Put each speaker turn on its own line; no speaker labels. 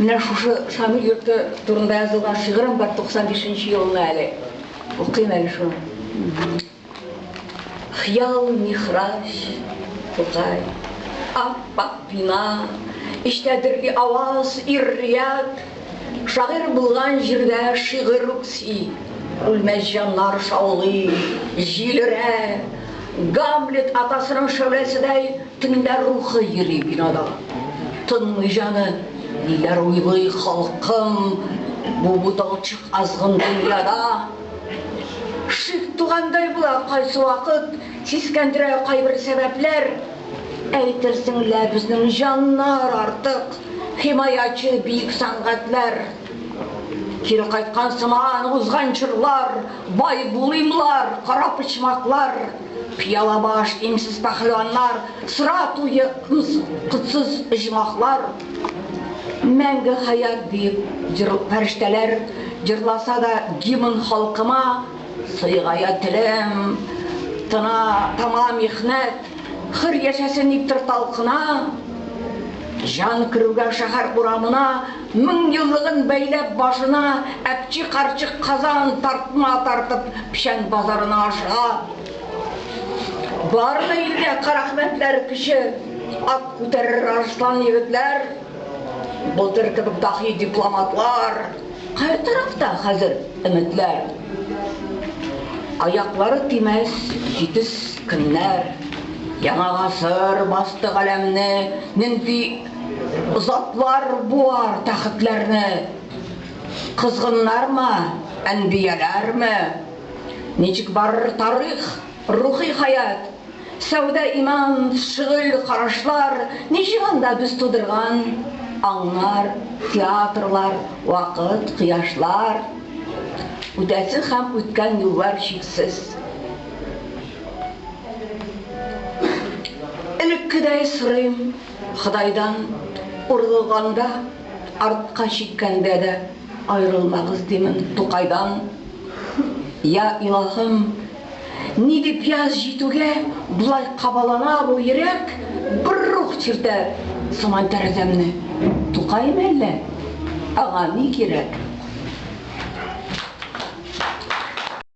Менә шушы Шамил йорты турында язылган шигырем бар 95 нче елны әле. Укыйм әле шуны. Хыял михрач, Тукай. Ап-ак бина, эчтә дөрли аваз, ир-ят. Шагыйрь булган җирдә шигырь үкси, үлмәс җаннар шаулый, җилерә. Гамлет атасының шәүләседәй. Төнлә рухы йөри бинада. Тынмый җаны, ниләр уйлый халкым Бу буталчык азгын дөньяда. Шик тугандай була кайсы вакыт, Сискәндерә кайбер сәбәпләр. Әйтерсең лә безнең җаннар артык, Химаячы биек сәнгатьләр. Кире кайткан сыман узган чорлар, Бай булыймлар, кара почмаклар, Пыяла баш, имсез пәһлеваннар, Сыра туе, котсыз оҗмахлар. Мәңге хәят диеп фәрештәләр Җырласа да гимн халкыма, Сыегая телем, тына, тама михнәт, Хөр яшәсен иптер талкына. Җан керүгә шәһәр урамына. Меңьюллыгын бәйләп башына, Әпчи карчык казан тартма тартып печән базарына ашыга. Барлык илгә карәхмәтләр Кече ат күтәрер арыслан егетләр, Былтыр кебек даһи дипломатлар, Кая тарафта хәзер өметләр? Аяклары тимәс җитез көннәр, Яңа гасыр басты галәмне, Нинди Затлар буар тәхетләрне, козгыннармы, әнбияләрме? Ничек барыр тарих, рухи хәят, сәүдә-иман, шөгыль, карашлар, ничек анда без тудырган аңнар, театрлар, вакыт, кояшлар? Үтәсе һәм үткән юллар чиксез. Элеккедәй сорыйм. Ходайдан урылганда, артка чиккәндә дә аерылмагыз димен Тукайдан. Я Илаһым, ни дип яз җитүгә болай кабалана бу йөрәк, бер рух чиртә сыман тәрәзәмне. Тукай мәллә? Аңа ни кирәк?